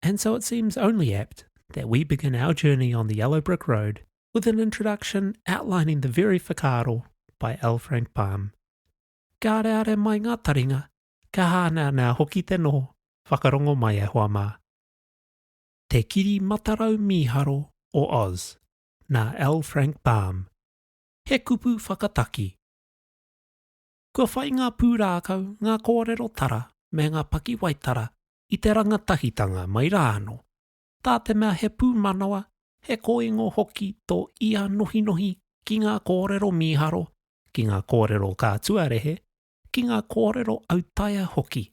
And so it seems only apt that we begin our journey on the yellow brick road with an introduction outlining the very whakaaro by L. Frank Baum. Ka areare mai ngā taringa, ka hāneanea hoki te noho, whakarongo mai e hoa mā. Te Kiri Matarau Mīharo o Oz, nā L. Frank Baum. He kupu whakataki. Kua whai ngā pūrākau, ngā kōrero tara, me ngā pakiwaitara i te rangatahitanga mai rā anō, tā te mea he pūmanawa, he kōingo hoki tō ia nohinohi ki ngā kōrero mīharo, ki ngā kōrero ka tuarehe, ki ngā kōrero autaia hoki.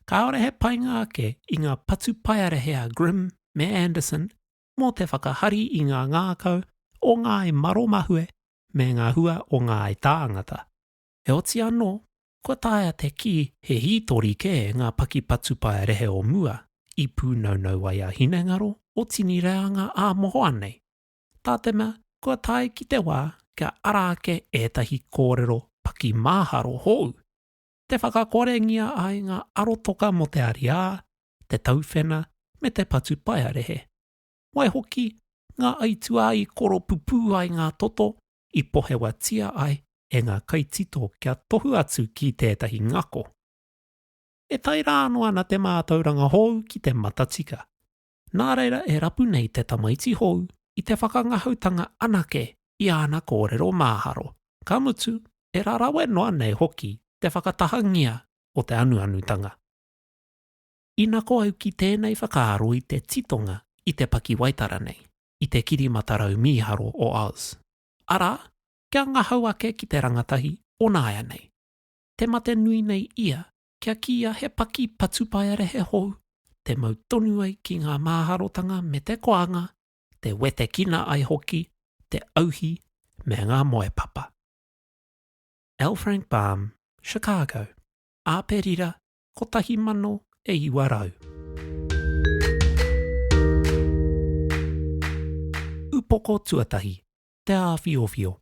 Kāore he painga ake i ngā patupaiarehe a Grimm me Anderson mō te whakahari i ngā ngākau o ngāi maromahue me ngā hua o ngāi tāngata. Heoti anō, kua taea te kī he hītori kē ngā paki patupae rehe o mua i pūnaunau ai a hinengaro o tini reanga ā mohoa nei. Tā te mea kua tae ki te wā kia ara ake ētahi kōrero paki māharo hou, te whakakorengia ai ngā arotoka mō te ariā, te tauwhena me te patupaearehe. Waihoki, ngā aituā i koropupū ai ngā toto i pohewatia ai e ngā kaitito kia tohu atu ki tētahi ngako. E tae rā anō ana te mātauranga hou ki te matatika. Nā reira e rapu nei te tamaiti hou i te whakangahautanga anake i āna kōrero māharo, ka mutu, e rarawe noa nei hoki te whakatahangia o te anuanutanga. Ina ko au ki tēnei whakaaro i te titonga i te pakiwaitara nei, i te kiri matarau mīharo o Oz. Arā, kia ngahau ake ki te rangatahi o nāianei. Te mate nui nei ia, kia kīia he paki patupaiarehe hou, te mau tonu ai ki ngā māharotanga me te koanga, te wetekina ai hoki, te auhi me ngā moepapa. L. Frank Baum, Chicago, Āperira 1900. Upoko tuatahi, te āwhiowhio.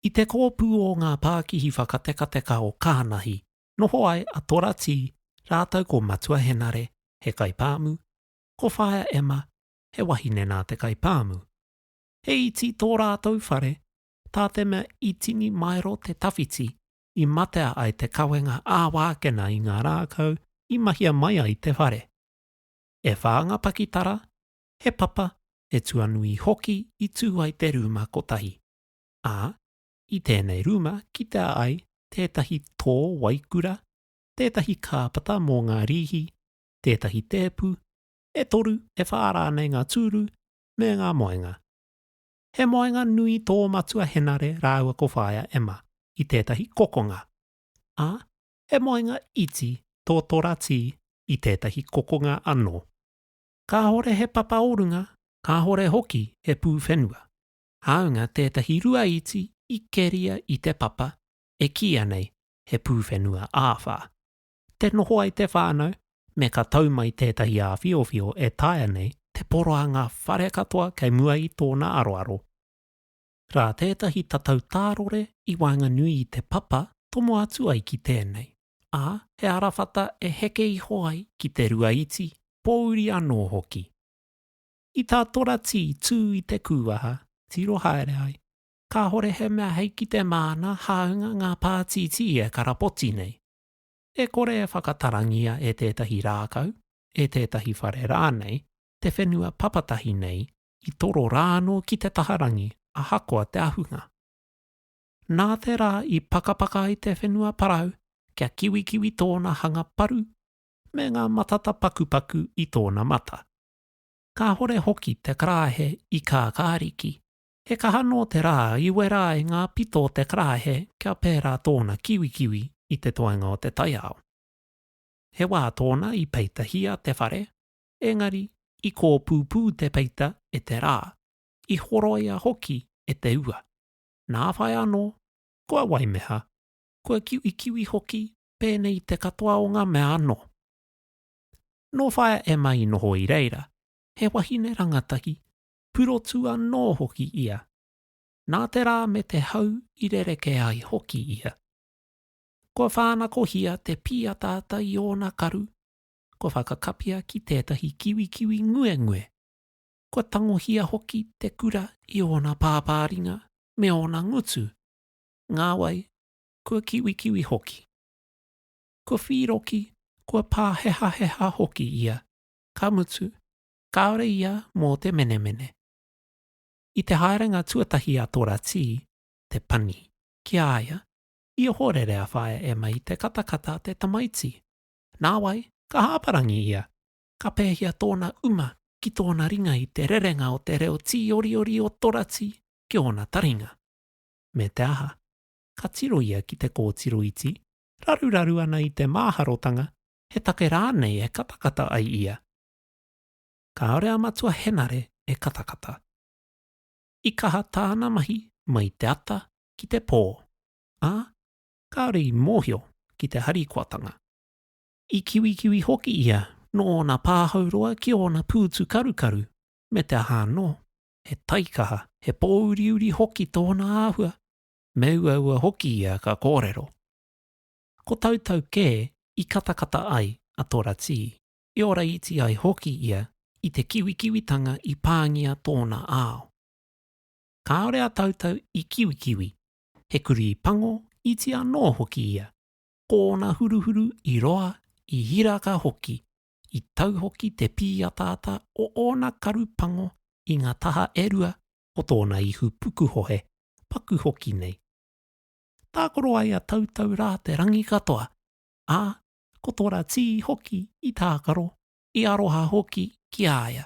I te kōpū o ngā pākihi whakatekateka o Kānahi, noho ai a Tora Tī rātou ko Matua Henare, he kaipāmu, ko Whaea Emma, he wahine nā te kaipāmu. He iti tō rātou whare, tā te mea i tini maero te tawhiti, i matea ai te kawenga ā-wākena i ngā rākau i mahia mai ai te whare. E whā ngā pakitara, he papa, he tuanui hoki i tū ai te rūma kotahi, ā, i tēnei rūma kitea ai tētahi tō waikura, tētahi kāpata mō ngā rīhi, tētahi tēpu, e toru, e whā rānei ngā tūru me ngā moenga. He moenga nui tō matua Henare rāua ko Whaea Emma i tētahi kokonga, ā, he moenga iti tō Tora Tī i tētahi kokonga anō. Kāhore he papa o runga, kāhore hoki he pūwhenua, hāunga tētahi rua iti i keria i te papa e kīia nei he pūwhenua āwhā. te noho ai te whānau, me ka tau mai tētahi āwhiowhio e taea nei te poroanga whare katoa kei mua i tōna aroaro. Rā tētahi tatau tārore i waenganui i te papa tomo atu ai ki tēnei, ā, he arawhata e heke iho ai ki te rua iti, pōuri anō hoki. I tā Toratī tū i te kūwaha, tiro haere ai, kāhore he mea hei ki te māna hāunga ngā pātītī e karapoti nei. E kore e whakatarangia e tētahi rākau, e tētahi whare rānei, te whenua papatahi nei i toro rā anō ki te taha rangi ahakoa te ahunga. Nā te rā i pakapaka ai te whenua parau kia kiwikiwi tōna hanga paru me ngā matata pakupaku i tōna mata. Kāhore hoki te karāhe i kākāriki He kaha nō te rā i wera ai ngā pito o te karaehe kia pērā tōna kiwikiwi i te toenga o te taiao. He wā tōna i peitahia te whare, engari i kōpūpū te peita e te rā, i horoia hoki e te ua. Nā whai anō, kua waimeha, kua kiwikiwi hoki pēnei te katoa o ngā mea anō. Nō whai a Emma i noho i reira, he wahine rangatahi, purotu anō hoki ia. Nā te rā me te hau i rerekē ai hoki ia. Kua whānakohia te pīataata i ōna karu, kua whakakapia ki tētahi kiwikiwi nguengue, kua tangohia hoki te kura i ōna pāpāringa me ōna ngutu, ngāwai, kua kiwikiwi hoki. Kua whīroki, kua pāhehaheha hoki ia, ka mutu, kāore ia mō te menemene. I te haerenga tuatahi a Tora Tī, te pani, ki a ia, i ohorere a Whaea Emma i te katakata a te tamaiti. Nāwai, ka hāparangi ia, ka pēhia tōna uma ki tōna ringa i te rerenga o te reo tīoriori o Tora Tī ki ōna taringa. Me te aha, ka tiro ia ki te kōtiro iti, raruraru ana i te māharotanga he take rānei e katakata ai ia, Kāore a Matua Henare e katakata. I kaha tāna mahi mai te ata ki te pō, ā, kāore i mōhio ki te harikoatanga. I kiwikiwi hoki ia nō ōna pāhau roa ki ōna pūtu karukaru me te aha anō, he taikaha, he pōuriuri hoki tōna āhua, me uaua hoki ia ka kōrero. Ko tautau kē i katakata ai a Toratii. i oraiti ai hoki ia i te kiwikiwitanga i pāngia tōna ao. Kāore a Tautau i kiwikiwi, he kurī pango iti anō hoki ia, ko ōna huruhuru i roa, i hiraka hoki, i tau hoki te pīataata o ōna karu pango i ngā taha e rua o tōna ihu pukuhohe, paku hoki nei. Tākaro ai a Tautau rā te rangi katoa, ā, ko tōna tī hoki i tākaro, i aroha hoki ki a ia.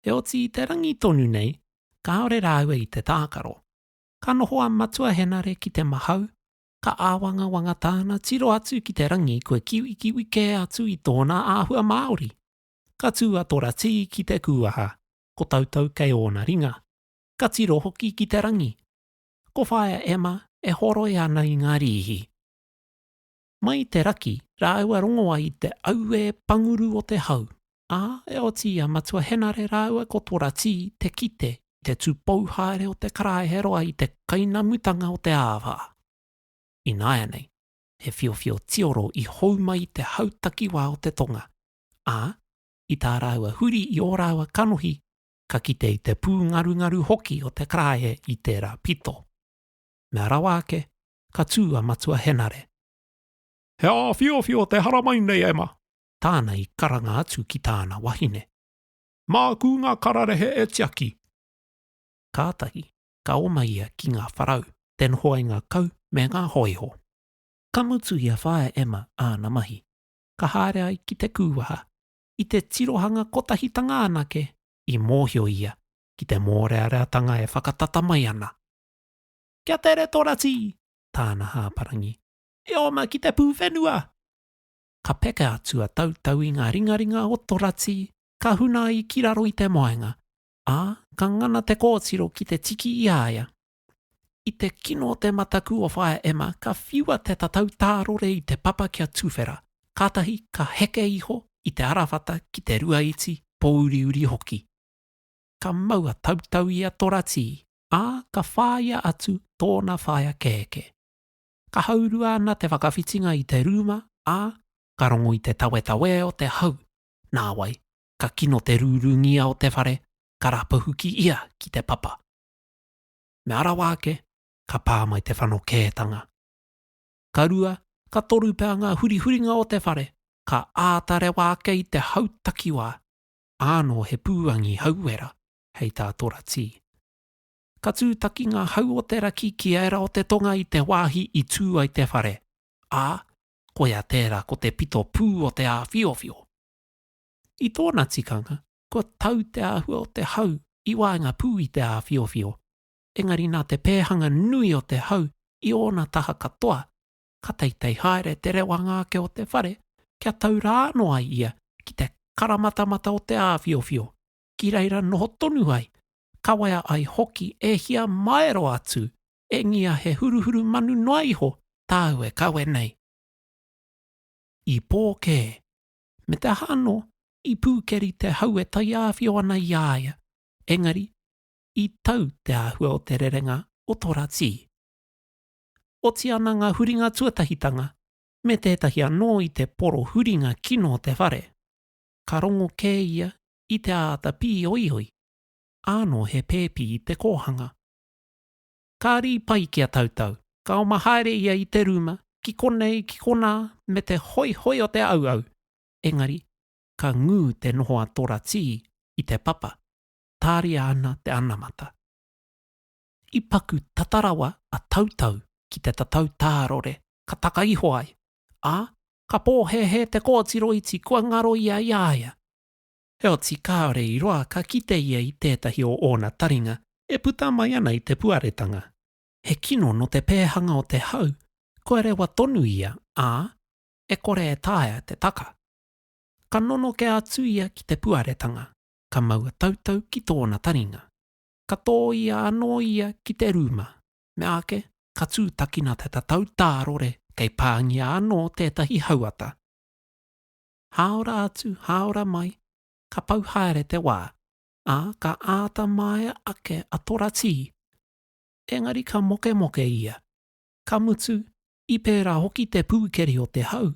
Heoti i te rangi tonu nei, kāore rāua i te tākaro. Ka noho a Matua Henare ki te mahau, ka āwangawanga tāna tiro atu ki te rangi kua kiwikiwi kē atu i tōna āhua Māori. Ka tū a Tora Tī ki te kūaha, ko Tautau kei ōna ringa. Ka tiro hoki ki te rangi. Ko Whaea Emma e horoi ana i ngā rīhi. Mai i te raki rāua rongoa i te auē panguru o te hau, ā, e oti i a Matua Henare rāua ko Poratī te kite i te tūpou haere o te karaehe roa i te kainamutanga o te āwhā. Ināianei, he whiowhio tioro i hou mai i te hau takiwā o te tonga, ā, i tā rāua huri i ō rāua kanohi, ka kite i te pūngarungaru hoki o te karaehe i tērā pito. Mea rawa ake, ka tū a Matua Henare. He āwhiowhio te haramai nei, Emma! Tāna i karanga atu ki tāna wahine. Māku ngā kararehe e tiaki! Kātahi, ka oma ia ki ngā wharau, te noho ai ngā kau me ngā hōiho. Ka mutu i a Whaea Emma āna mahi, ka haere ai ki te kūwaha. I te tirohanga kotahitanga anake, i mōhio ia ki te mōreareatanga e whakatata mai ana. Kia tere to rati! Tāna hāparangi. E oma ki te pūwhenua! Ka peka atu a Tautau i ngā ringaringa o to rati, ka huna ai ki raro i te moenga, ā, ka ngana te kōtiro ki te tiki i a ia. I te kino o te mataku o Whaea Emma ka whiua te tatau tārore i te papa kia tuwhera, kātahi ka heke iho i te arawhata ki te rua iti, pōuriuri hoki. ka maua tautau i a Toratī, ā, ka whāia atu tōna whaea kēkē. Ka haurua ana te whakawhitinga i te rūma, ā, ka rongo i te tawetawē o te hau, nāwai, ka kino te rūrūngia o te whare, ka rapahuki ia ki te papa. Mea rawa ake, ka pā mai te whanokētanga. Ka rua, ka toru pea ngā hurihuringa o te whare, ka āta rewa ake i te hau takiwā, āno he pūangi hauera hei tā Toratī. Ka tūtaki ngā hau o te raki ki ērā o te tonga i te wāhi i tū ai te whare, ā, koia tērā ko te pito pū o te āwhiowhio. I tōna tikanga, kua tau te āhua o te hau i waenga pū i te āwhiowhio, engari nā te pēhanga nui o te hau i ōna taha katoa, ka teitei haere te rewanga ake o te whare kia tau rā anō ai ia ki te karamatamata o te āwhiowhio, ki reira noho tonu ai, kawea ai hoki e hia maero atu, engia he huruhuru manu noa iho tāu e kawe nei. I pō kē. Me te aha anō, i pūkeri te hau e taiāwhio ana i a ia, engari, i tau te āhua o te rerenga o tō rā tī. oti ana ngā huringa tuatahitanga me tētahi anō i te poro huringa kino o te whare, ka rongo kē ia i te āta pīoioi, ānō he pēpi i te kōhanga. Ka rī pai ki a Tautau, ka oma haere ia i te rūma, ki konei, ki konā, me te hoihoi o te auau, engari, ka ngū te noho a Tora Tī i te papa, tāria ana te anamata. I paku tata rawa a Tautau ki te tatau tārore, ka taka iho ai, ā, ka pōhēhē te kōtiro iti kua ngaro ia i a ia. Heoti kāore i roa ka kite ia i tētahi o ōna taringa e puta mai ana i te puaretanga. He kino nō te pēhanga o te hau, kua rewa tonu ia, ā, e kore e taea te taka. Ka nonoke atu ia ki te puaretanga, ka mau a Tautau ki tōna taringa. ka tōia anō ia ki te rūma. Meāke, ka tūtakina te tatau tārore kei pāngia anō tētahi hauata. Hāora atu, hāora mai, ka pau haere te wā, ā, ka āta māia ake a Toratī. Engari ka mokemoke ia. Ka mutu, i pērā hoki te pūkeri o te hau,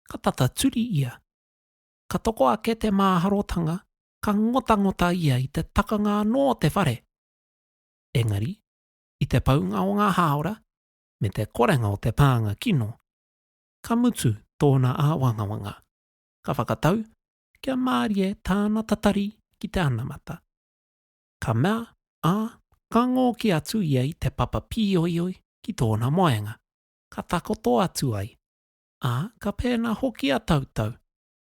ka tata turi ia. Ka toko ake te māharotanga ka ngotangota ia i te takanga anō o te whare. Engari, i te paunga o ngā hāora me te korenga o te pānga kino, ka mutu tōna āwangawanga, ka whakatau kia mārie tāna tatari ki te anamata. Ka mea, ā, ka ngōki atu ia i te papa pīoioi ki tōna moenga, ka takoto atu ai, ā, ka pēnā hoki a Tautau,